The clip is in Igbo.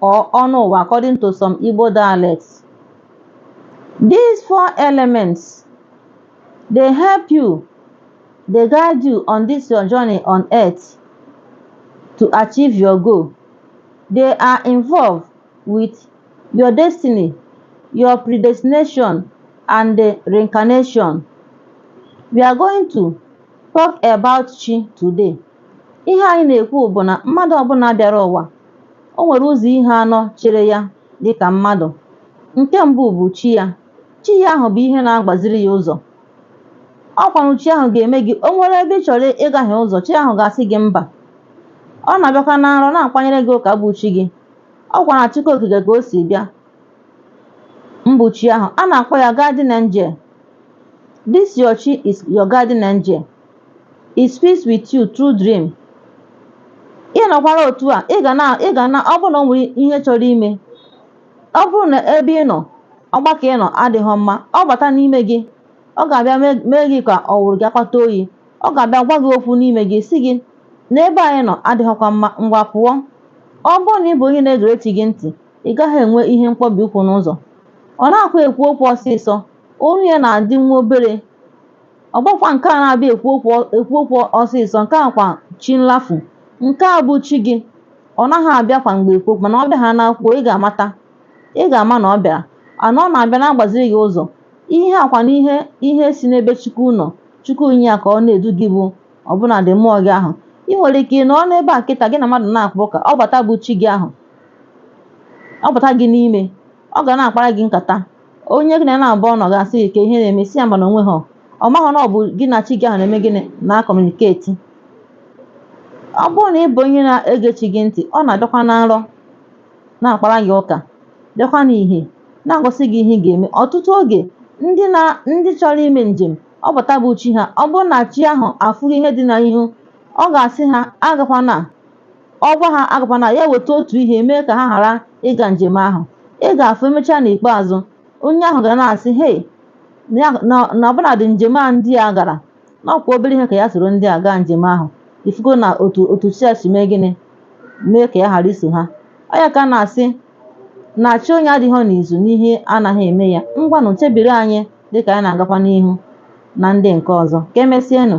or Onuwa according to some Igbo dialects. These four elements dey help you, dey guide you on this your journey on earth to achieve your goal. They are involved with your destiny, your predestination and the reincarnation. We are going to talk about chi today. Ihe anyị na-ekwu bụ na mmadụ ọbụla bịara ụwa o nwere ụzọ ihe anọ chere ya dị ka mmadụ. Nke mbụ bụ chi ya. Chi ya ahụ bụ ihe na-agbaziri ya ụzọ. Ọ kwanụ chi ahụ ga-eme gị o nwere ebe ị chọrọ ịgahie ụzọ, chi ahụ ga-asị gị mba. Ọ na-abịakwa na nrọ na-akpanyere gị ụka bụ chi gị. Ọ kwa na Chukwu Okike ka o si bịa mbụ chi ahụ. A na-akpọ ya guardian angel. This your chi is your guardian angel. he speaks with you through dream ị nọkwara otu a ị ga na ị ga na ọ bụrụ na o nwere ihe chọrọ ime ọ bụrụ na ebe ị nọ ọgbakọ ị nọ adịghị mma ọ bata n'ime gị ọ ga-abịa mee- mee gị ka ọ wụrụ gị akpata oyi ọ ga-abịa gwa gị okwu n'ime gị sị gị na ebe anyị nọ adịghịkwa mma ngwa pụọ ọ bụrụ na ị bụ onye na-egere chi gị ntị ị gaghị enwe ihe mkpọbi ụkwụ n'ụzọ ọ naghịkwa ekwu okwu ọsịsọ olu ya na-adị nwa obere Ọ bụkwa nke a na-abịa ekwu ekwu okwu ọsịsọ, nke a kwa chi nlafu. Nke a bụ chi gị. Ọ naghị abịa kwa mgbe ekwu okwu, mana ọ bịaha na-ekwu okwu, ị ga-amata. Ị ga-ama na ọ bịara. And ọ na-abịa na-agbaziri gị ụzọ. Ihe a kwa na ihe ihe si n'ebe Chukwu nọ. Chukwu nye ya ka ọ na-edu gị bụ ọbụnadị mmụọ gị ahụ. Ị nwere ike nọọ n'ebe a kịta gị na mmadụ na-akpa ụka, ọ bata bụ chi gị ahụ. Ọ bata gị n'ime. Ọ ga na-akpara gị nkata. onye gị na ya naabọ nọ ga-asị gị kee ihe na-eme ị sị ya mba na o nweghị ọ maghị na ọ bụ gị na chi gị ahụ na-eme gịnị na-communicate ọ bụrụ na ị bụ onye na-ege chi gị ntị ọ na-abịakwa na nrọ na-akpara gị ụka bịakwa n'ihe na-egosi gị ihe ị ga-eme ọtụtụ oge ndị na ndị chọrọ ime njem ọ pụta bụ chi ha ọ bụrụ na chi ahụ afụghị ihe dị n'ihu ọ ga-asị ha agakwana ọ gwa ha agakwana ya weta otu ihe mee ka ha ghara ịga njem ahụ ị ga-afụ emechaa n'ikpeazụ onye ahụ ga na-asị hei na ọbụnadị njem a ndị a gara na ọ kwa obere ihe ka ya soro ndị a gaa njem ahụ ị fụgonụ otu chi ya si mee gịnị mee ka ya ghara iso ha ọ ya ka a na-asị na chi onye adịghị n'izu na ihe anaghị eme ya ngwanụ chebiri anyị dịka anyị na-agakwa n'ihu na ndị nke ọzọ ka emesịanụ